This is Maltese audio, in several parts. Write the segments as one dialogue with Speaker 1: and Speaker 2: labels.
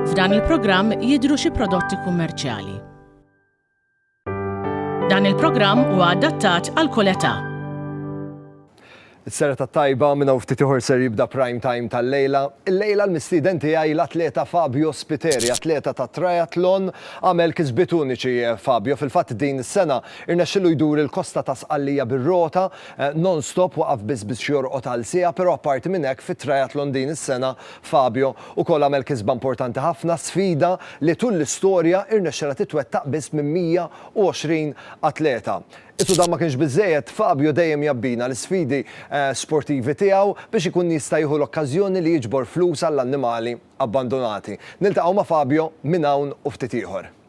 Speaker 1: F'dan il-programm jidhru xi prodotti kummerċjali. Dan il-programm huwa adattat għal kull età.
Speaker 2: Is-sera ta' tajba minn hawn ftit ieħor ser jibda prime time tal-lejla. Il-lejla l-mistieden tiegħi l-atleta Fabio Spiteri, atleta ta' triathlon, għamel kisbiet uniċi Fabio. Fil-fatt din is-sena Irnexxielu jdur il-kosta ta' Sqallija bir-rota, non-stop, waqaf biss biex jorqod għal siegħa, però apparti minn hekk fit-triathlon din is-sena Fabio ukoll għamel kisba importanti ħafna, sfida li tul l-istorja irnexxielha titwettaq biss minn 120 atleta. Itu dan ma kienx biżżejjed, Fabio dejjem jgħabbina l-isfidi sportivi tiegħu biex ikun jista' jieħu l-okkażjoni li jiġbor flus għall-annimali abbandunati. Niltaqgħu ma' Fabio minn hawn u ftit ieħor.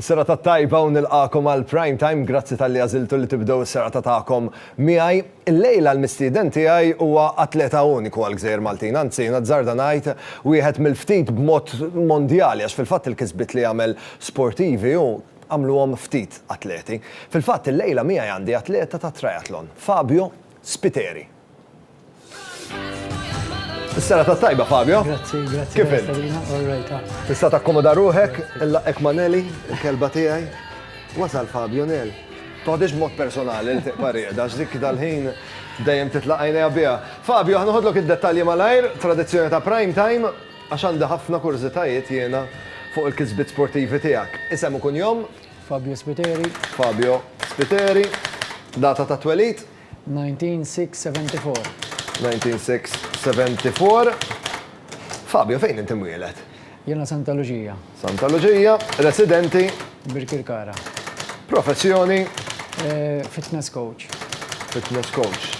Speaker 2: Serata tajba u nilqagħkom għal Prime Time, grazzi talli għażiltu li tibdew is-serata tagħkom miegħi. Illejla l-mistieden tiegħi huwa atleta uniku għall-Gżejjer Maltin, anzi nazzarda ngħid wieħed mill-ftit b'mod mondjali għax fil-fatt il-kisbiet li għamel sportivi hu għamluhom ftit atleti. Fil-fatt illejla miegħi għandi atleta tat-triathlon, Fabio Spiteri. Is-sera ta' tajba, Fabio. Grazzi, grazzi. Kif il? Tista' takkomoda ruħek, il-laqek Maneli, il-kelba tiegħi. Wasal Fabio Nel. Toħdix mod personali li tiqpa rieda, x'dik dal-ħin dejjem titlaqajna biha. Fabio, ħanħodlok id-dettalji malajr, tradizzjoni ta' prime time, għax għandi ħafna kurżitajiet jiena fuq il-kisbiet sportivi tiegħek. Isem u kunjom? Fabio Spiteri.
Speaker 3: Fabio
Speaker 2: Spiteri. Data ta' twelid? 1974. Fabio, fejn inti mwieled? Jiena Santa
Speaker 3: Luġija. Santa Luġija,
Speaker 2: residenti? Birkirkara.
Speaker 3: Professjoni? Fitness coach. Fitness
Speaker 2: coach.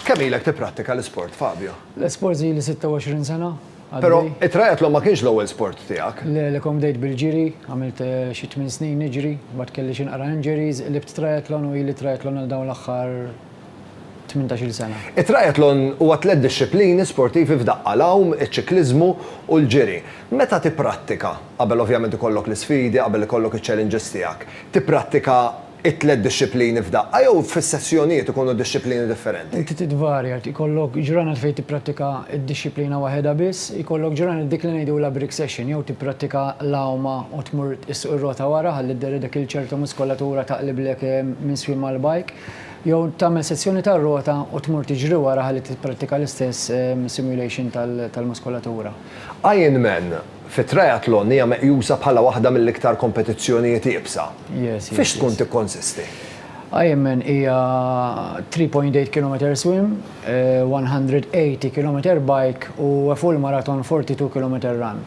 Speaker 2: Kemm ilek tipprattika l-isport, Fabio? L-isport ili 26
Speaker 3: sena. Però it-triathlon
Speaker 2: ma kienx l-ewwel sport tiegħek. Le, le, kont bdejt bil-ġiri,
Speaker 3: għamilt xi tmien snin niġri, mbagħad kelli xi naqra injuries, qlibt triathlon u ili triathlon għal dawn l-aħħar tmintax-il sena. It-triathlon huwa tliet dixxiplini
Speaker 2: sportivi f'daqqa, l-għawm, iċ-ċikliżmu u l-ġiri. Meta tipprattika, qabel ovvjament ikollok l-isfidi, qabel ikollok iċ-challenges tiegħek, tipprattika it-tliet dixxiplini f'daqqa jew fis-sessjonijiet ikunu dixxiplini differenti? Inti titvarja,
Speaker 3: ikollok ġranet fejn tipprattika d-dixxiplina waħedha biss, ikollok ġranet dik li ngħidulha break session jew tipprattika l-għawma u tmur issuq ir-rota wara ħalli dderri dik il-ċerta muskolatura taqliblek minn swiem mal-bike, jew tagħmel sessjoni tar-rota u tmur tiġri wara ħalli tipprattika l-istess simulation tal-muskolatura. Ironman,
Speaker 2: Fit-triathlon hija meqjusa bħala waħda mill-iktar kompetizzjonijiet iebsa. Fiex tkun tikkonsisti? Ironman
Speaker 3: hija 3.8 kilometer swim, 180 kilometer bike u a full marathon 42 kilometer run.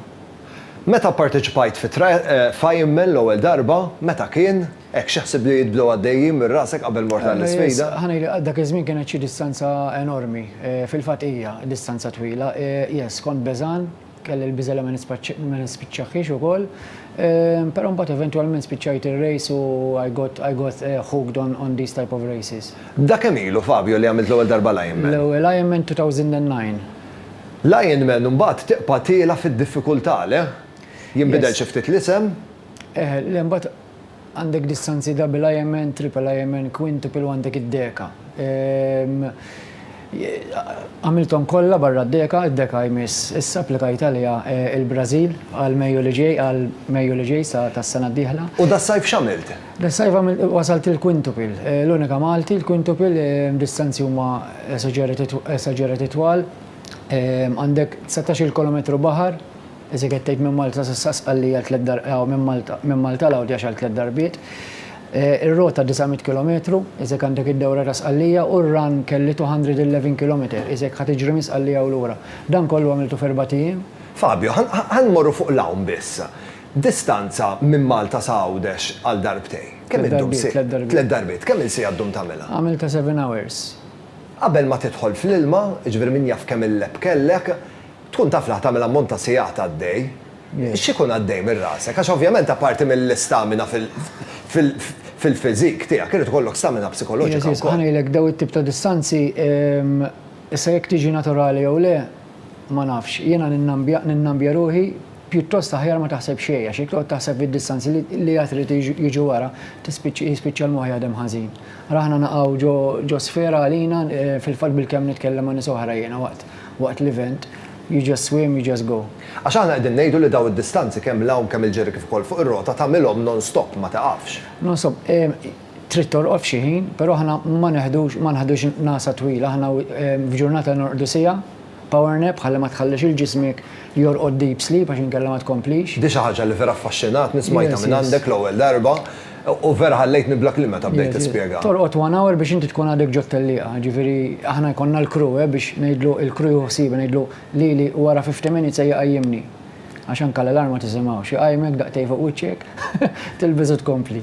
Speaker 3: Meta
Speaker 2: pparteċipajt f'Ironman l-ewwel darba, meta kien? Hekk, xi ħsieb li jitbdew għaddejjin minn rasek qabel mort għall-isfida? Ħa ngħidlek, għal dak iż-żmien
Speaker 3: kienet xi distanza enormi. Fil-fatt hija distanza twila. Yes, kont beżgħan, Kelli l-biża' li ma nispiċċaħhiex ukoll, però mbagħad eventwalment spiċċajt ir-race u I got I got hooked on on these type of races. Da kemm ilu, Fabio,
Speaker 2: li għamilt l-ewwel darba l-Ironman? L-ewwel Ironman 2009. L-Ironman mbagħad tibqa' tiela' fid-diffikultà, le? Jinbidel xi ftit l-isem? Eħe, le mbagħad.
Speaker 3: Għandek distanzi double IMN, triple IMN, quintuple u għandek id-deka. Għamilthom kollha barra d-deka, id-deka jmiss issa applikajt għaliha l-Brażil għal Mejju li ġej, għal Mejju li ġej sa tas-sena d-dieħla. U das-sajf x'għamilt?
Speaker 2: Das-sajf għamilt,
Speaker 3: wasalt il-quintuple. L-unika Malti, il-quintuple, distanzi huma esaġerati twal. Għandek dsatax-il kilometru baħar, Ezekiel tgħid minn Malta s'issa Sqallija għal tliet dar aw minn Malta minn Malta l-Għawdjax għal tliet darbiet. Ir-rota 900 kilometru, iżek għandek id-dewra ta' Sqallija u r-run kelli 211 kilometer, iżek ħa tiġri minn Sqallija u lura. Dan kollu għamiltu f'erbgħat ijiem? Fabio,
Speaker 2: Ħa nmorru fuq l-hawn biss. Distanza minn Malta sa Għawdex għal darbtejn. Kemm iddum si. Tliet darbiet. Tliet darbiet. Kemm il siegħa ddum tagħmilha? Għamiltha seven hours.
Speaker 3: Qabel
Speaker 2: ma tidħol fl-ilma, jiġifieri min jaf kemm il-lep kellek, Tkun taf li ħa tagħmel ammont ta' sigħat għaddej. X'ikun għaddej minn rasek? Għax ovvjament apparti mill-istamina fil-fiżik tiegħek irid ikollok stamina psikoloġika wkoll. Għażiż, ħa ngħidlek dawn it-tip ta'
Speaker 3: distanzi, issa jekk tiġi naturali jew le ma nafx. Jiena ninnambja ruħi, pjuttost aħjar ma taħseb xejn għax jekk toqgħod taħseb fid-distanzi li għad irid jiġu wara jispiċċa l-moħħ jaħdem ħażin. Ara aħna naqgħu ġo sfera għalina, fil-fatt bilkemm nitkellem ma' nies oħra jiena waqt. waqt l-event, you just swim, you just go. Għax aħna qegħdin ngħidu li
Speaker 2: dawn id-distanzi kemm 'l hawn, kemm 'il ġiri kif ukoll fuq ir-rota tagħmilhom non-stop, ma tiqafx. Non-stop,
Speaker 3: trid torqod f'xi ħin, però aħna ma neħdux, ma naħdux ngħasa twila, aħna f'ġurnata norqdu siegħa, power nap, ħalli ma tħallix lil ġismek jorqod deep sleep għax inkella ma tkomplix. Di xi ħaġa li vera
Speaker 2: affaxxinatni smajtha minn għandek l-ewwel darba. U vera ħallejtni bla kliem meta bdejt tispjega. Torqod one hour biex inti
Speaker 3: tkun għadek ġot-tellieqa, ġifieri aħna jkollna l-crew eh biex ngħidlu il-crew jieħu ħsiebha ngħidlu lili u wara fifty minutes ejja qajjimni. Għax anke l-alarm ma tisimgħux, iqajjmek daqtej fuq wiċċek, tilbes u tkompli.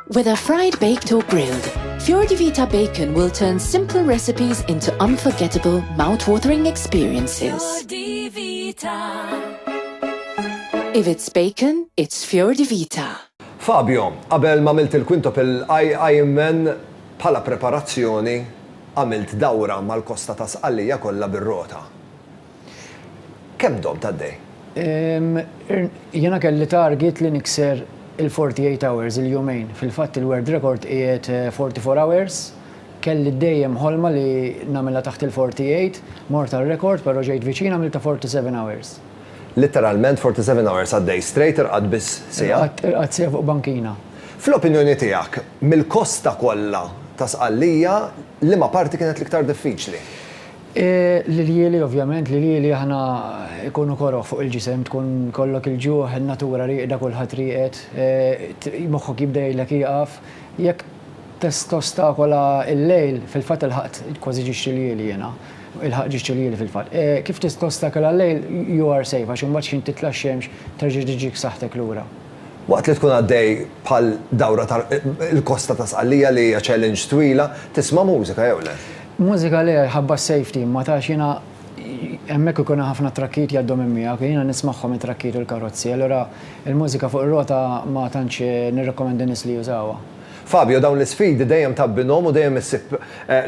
Speaker 4: Whether fried, baked or grilled, Fior di Vita Bacon will turn simple recipes into unforgettable, mouth-watering experiences. Fior di Vita. If it's bacon, it's Fior di Vita. Fabio,
Speaker 2: qabel ma għamilt il-quintuple Ironman bħala preparazzjoni għamilt dawra mal-kosta ta' Sqallija kollha bir-rota. Kemm domt għaddej?
Speaker 3: Jiena kelli target li nikser il-forty eight hours, il-jumejn. Fil-fatt il-world record qiegħed forty four hours. Kelli dejjem ħolma li nagħmilha taħt il-forty eight, mort għar-rekord però ġejt viċin għamiltha forty seven hours. Litteralment
Speaker 2: forty seven hours għaddej straight irqadt biss siegħa? Irqadt siegħa fuq
Speaker 3: bankina. Fl-opinjoni
Speaker 2: tiegħek, mill-kosta kollha ta' Sqallija, liema parti kienet l-iktar diffiċli?
Speaker 3: L-iljieli, ovvjament, l-iljieli aħna jkunu koroh fuq il-ġisem, tkun jkollok il-ġuħ, in-natura rieqda, kulħadd rieqed, moħħok jibda jgħidlek ieqaf. Jekk tostakola l-lejl, fil-fatt ilħaqt kważi ġiġt iljieli jiena, ilħaqt ġiġt iljieli fil-fatt. Kif tostakola l-lejl, you are safe, għax imbagħad x'ħin titla' x-xemx terġa' tiġik saħħtek lura. Waqt li tkun
Speaker 2: għaddej bħal dawra ta' l-kosta ta' Sqallija li hija challenge twila, tisma' mużika jew le? Mużika le,
Speaker 3: ħabba s-safety, imma tax jiena hemmhekk ikun hemm ħafna trakkijiet jgħaddu minn miegħek u jiena nismagħhom it-trakkijiet u l-karozzi, allura l-mużika fuq ir-rota ma tantx nirrekomenda n-nies li jużawha. Fabio, Dawn
Speaker 2: l-isfidi dejjem tabbinhom u dejjem issib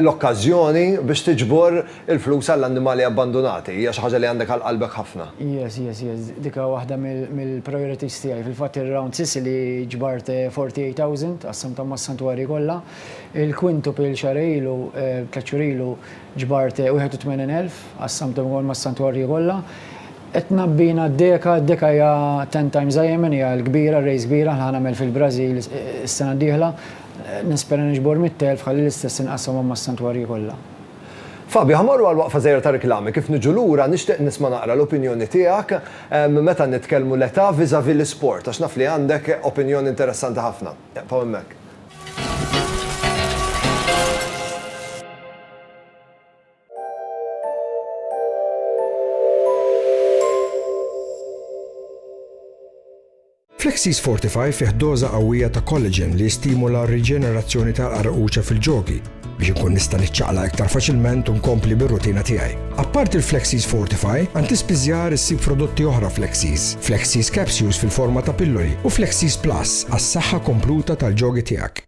Speaker 2: l-okkażjoni biex tiġbor il-flus għall-annimali abbandunati. Hija xi ħaġa li għandek għal qalbek ħafna. Yes, yes, yes.
Speaker 3: Dik hi waħda mill-priorities tiegħi. Fil-fatt ir-Round Sicily ġbart forty eight thousand, qassamthom mas-santwarji kollha. Il-Quintuple xahrejn ilu, tliet xhur ilu, ġbart wieħed u tmenin elf, qassamthom ukoll mas-santwarji kollha. Qed tnabbina d-deka, d-deka hija ten times Ironman, hija l-kbira, race kbira, ħa nagħmel fil-Brażil is-sena d-dieħla. Nispera niġbor mitt elf ħalli l-istess inqassamhom mas-santwarji kollha. Fabio,
Speaker 2: ħa morru għal waqfa żgħira ta' riklami, kif niġu lura nixtieq nisma' naqra l-opinjoni tiegħek meta nitkellmu l-età vis-à-vis l-isport għax naf li għandek opinjoni interessanti ħafna. Eqfgħu hemmhekk.
Speaker 5: Flexis Fortify fih doża qawwija ta' collagen li jistimula r-riġenerazzjoni tal-qarquċa fil-ġogi biex inkun nista' niċċaqlaq iktar faċilment u nkompli bir-rutina tiegħi. Apparti l-Flexis Fortify, għand ispiżjar issib prodotti oħra Flexis, Flexis Capsules fil-forma ta' pilloli u Flexis Plus għas-saħħa kompluta tal-ġogi tiegħek.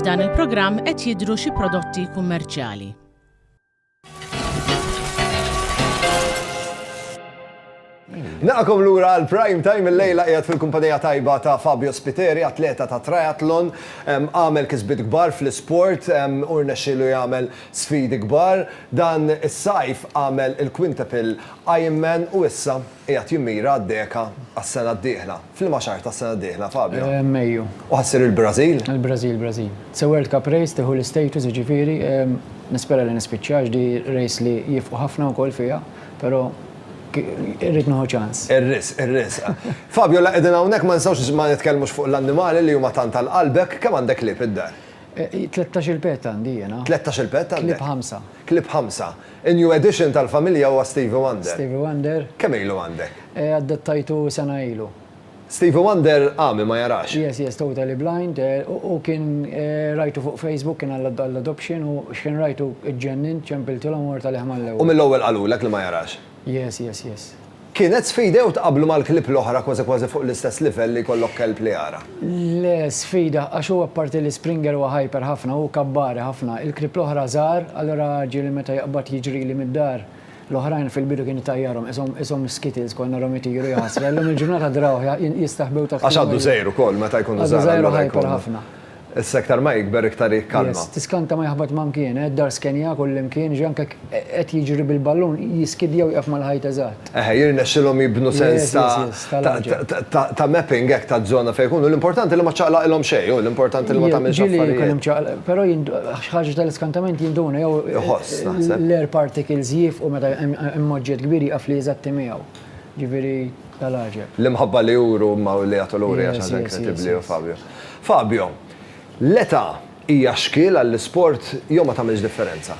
Speaker 1: F'dan il-programm qed jidhru xi prodotti kummerċjali.
Speaker 2: Naqakom lura għal prime time il-lejla qiegħed fil-kumpanija tajba ta' Fabio Spiteri, atleta ta' triathlon, għamel kisbit kbar fl-isport, urna xilu jagħmel sfidi kbar. Dan is-sajf għamel il-quintuple Ironman u issa qiegħed jimmira għad-deka għas-sena d-dieħla. F'liema xahar tas-sena d-dieħla, Fabio? Mejju. U ħa ssir
Speaker 3: il-Brażil?
Speaker 2: Il-Brażil, Brażil.
Speaker 3: Se World Cup race tieħu l-istatus jiġifieri nispera li nispiċċa għax di race li jifqu ħafna wkoll fiha però irrid nieħu ċans. Ir-risq, ir-risq.
Speaker 2: Fabio la qegħdin hawnhekk ma nistgħux ma nitkellmux fuq l-annimali li huma tant għal qalbek, kemm għandek klieb id-dar? Tlettax-il
Speaker 3: pet għandi jiena. Tlettax-il pet għandek? Klieb
Speaker 2: ħamsa. Clip 5, In-new addition tal-familja huwa Stevie Wonder. Stevie Wonder. Kemm
Speaker 3: ilu għandek?
Speaker 2: Eh, adottajtu
Speaker 3: sena ilu. Stevie Wonder
Speaker 2: għami, ma jarax? Yes, yes, totally blind.
Speaker 3: Eh, u kien eh, rajtu fuq Facebook, kien għall-adoption u x'ħin rajtu ġġennint, ċempiltilhom u mort għalih mal-ewwel. U mill-ewwel qalulek
Speaker 2: li ma jarax? Yes, yes, yes.
Speaker 3: Kienet
Speaker 2: sfida jew tqabblu mal-klieb l-oħra kważi kważi fuq l-istess livell li jkollok kelb li jara? Le,
Speaker 3: sfida, għax hu apparti li Springer huwa hyper ħafna, hu kabbari ħafna. Il-klieb l-oħra żgħar, allura ġieli meta jaqbad jiġrili mid-dar, l-oħrajn fil-bidu kien itajjarhom, qishom qishom skittles kont narhom itiru jaħsra, illum il-ġurnata drawh jistaħbew taħt il-. Għax għadu żgħir ukoll
Speaker 2: meta jkunu żgħar allura jkunu. Għadu żgħir u hyper ħafna.
Speaker 3: Issa iktar ma
Speaker 2: jikber iktar hi kalma. Yes, tiskanta ma jaħbat ma
Speaker 3: mkien, eh, d-dar skenja kullimkien, ġi anke qed jiġri bil-ballun jiskidja u jieqaf mal-ħajt eżatt. Eħe, jirnexxilhom jibnu
Speaker 2: sens ta' Yes, yes, ta' l-għaġeb. ta' ta' ta' mapping hekk taż-żona fejn ikunu. L-importanti li ma ċċaqlaqilhom xejn, hu, l-importanti li ma tagħmilx affarijiet. Jiġieli jkun hemm ċaqlaq, però jint xi
Speaker 3: ħaġa ta' l-iskantament jinduna jew Iħoss, naħseb. l-air particles jiefqu meta hemm oġġett kbir jieqaf li jeżatti miegħu. Ġifieri ta' l-għaġeb. L-imħabba li juru
Speaker 2: huma u li jagħtu lura hija xi ħaġa Yes, yes, yes, yes. inkredibbli, hu Fabio. Fabio, L-età hija xkiel għall-isport jew ma tagħmilx differenza?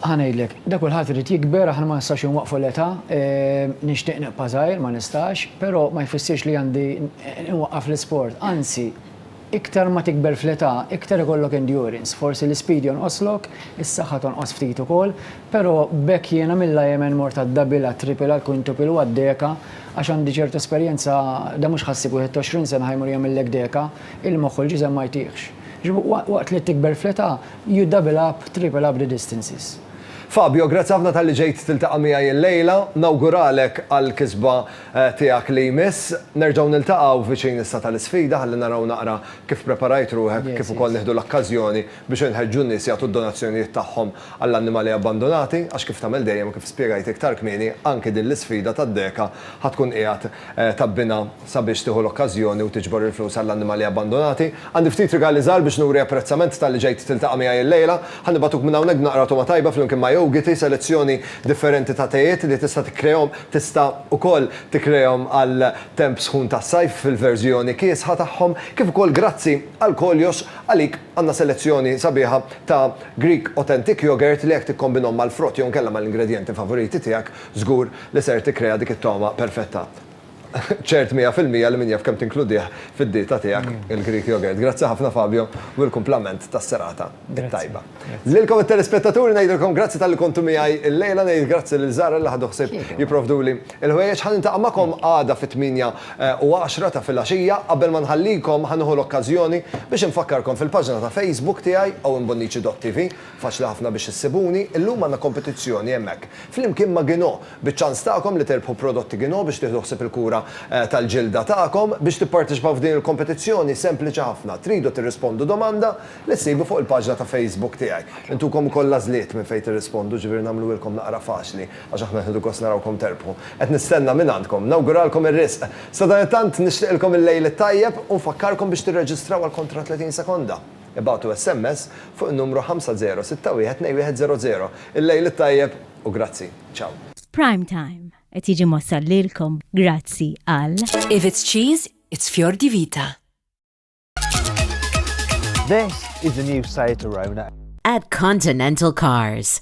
Speaker 2: Ħa ngħidlek,
Speaker 3: da kulħadd irid jikber, aħna ma nistgħux inwaqqfu l-età. Nixtieq nibqa' żgħir, ma nistax, però ma jfissirx li għandi nwaqqaf l-isport. Anzi, iktar ma tikber fl-età, iktar ikollok endurance. Forsi l-ispeed jonqoslok, is-saħħa tonqos ftit ukoll. Pero, b'hekk jiena mill-IMN mort għad-double, għat-triple, għall-quintuple u għad-deka, għax għandi ċertu esperjenza, dan mhux ħassib 21 sena ħa jmur jagħmillek deka, il-moħħ u l-ġisem ma jtihx. Jiġifieri waqt li tikber fl-età, you double up, triple up the distances. Fabio, grazzi
Speaker 2: ħafna talli ġejt tiltaqa' miegħi illejla. Nawguralek għall-kisba tiegħek li jmiss. Nerġgħu niltaqgħu viċin issa tal-isfida ħalli naraw naqra kif preparajt ruħek kif ukoll nieħdu l-okkażjoni biex inħeġġu n-nies jagħtu d-donazzjonijiet tagħhom għall-annimali abbandunati għax kif tagħmel dejjem u kif spjegajt iktar kmieni anki din l-isfida tad-deka ħa tkun qiegħed tgħabbinha sabiex tieħu l-okkażjoni u tiġbor il-flus għall-annimali abbandunati. Għandi ftit rigali żgħar biex nuri apprezzament talli ġejt tiltaqa' miegħi illejla. Ħa nibagħtuk minn hawnhekk b'naqra togħma tajba flimkien ma' jowgiti, selezzjoni differenti ta' tejiet li tista' tikkreahom tista' ukoll tikkreahom għal temp sħun tas-sajf fil-verżjoni kiesħa tagħhom kif ukoll grazzi għal koljox għalik għandna selezzjoni sabiħa ta' Greek Authentic Yoghurt li jekk tikkombinhom mal-frott jew inkella mal-ingredjenti favoriti tiegħek, żgur li ser tikkrea dik it-togħma perfetta. Ċert mija fil-mija li min jaf kemm tinkludih fid-dieta tiegħek il-Greek Yoghurt. Grazzi ħafna Fabio u il-kumplament tas-serata t-tajba. Lilkom it-telespettaturi ngħidilkom grazzi talli kontu miegħi l-lejla, ngħid grazzi lil Zahra li ħadu ħsieb jipprovduli Il-ħwejjeġ ħa niltaqa' magħkom għada fit-tmienja u għaxra ta' filgħaxija. Qabel ma nħallikom ħa nieħu l-okkażjoni biex infakkarkom fil-paġna ta' Facebook tiegħi owenbonnici.tv. Faċli ħafna biex issibuni. Illum għandna kompetizzjoni hemmhekk flimkien ma' Ginò biċ-ċans tagħkom li tirbħu prodotti Ginò biex tieħdu ħsieb il-kura tal-ġilda tagħkom. Biex tipparteċipaw f'din il-kompetizzjoni sempliċi ħafna. Tridu tirrispondu domanda li ssibu fuq il-paġna ta' Facebook tiegħi. Intukom ukoll l-għażliet minn fejn tirrispondu ġifieri nagħmluhielkom naqra faċli. Għax aħna qed nieħdu gost narawkom terbħu. Qed nistenna mingħandkom. Nawguralkom ir-riżq. Sadanittant nixtieqilkom il-lejl it-tajjeb u nfakkarkom biex tirreġistraw għal kontra 30 sekonda. Ibagħtu SMS fuq in-numru 50612100. Il-lejl it-tajjeb u grazzi. Ciao. Prime Time
Speaker 6: qed jiġi mwassal lilkom grazzi għal. If it's cheese,
Speaker 4: it's Fior di Vita.
Speaker 7: This is the new Seat Arona. At Continental
Speaker 8: Cars.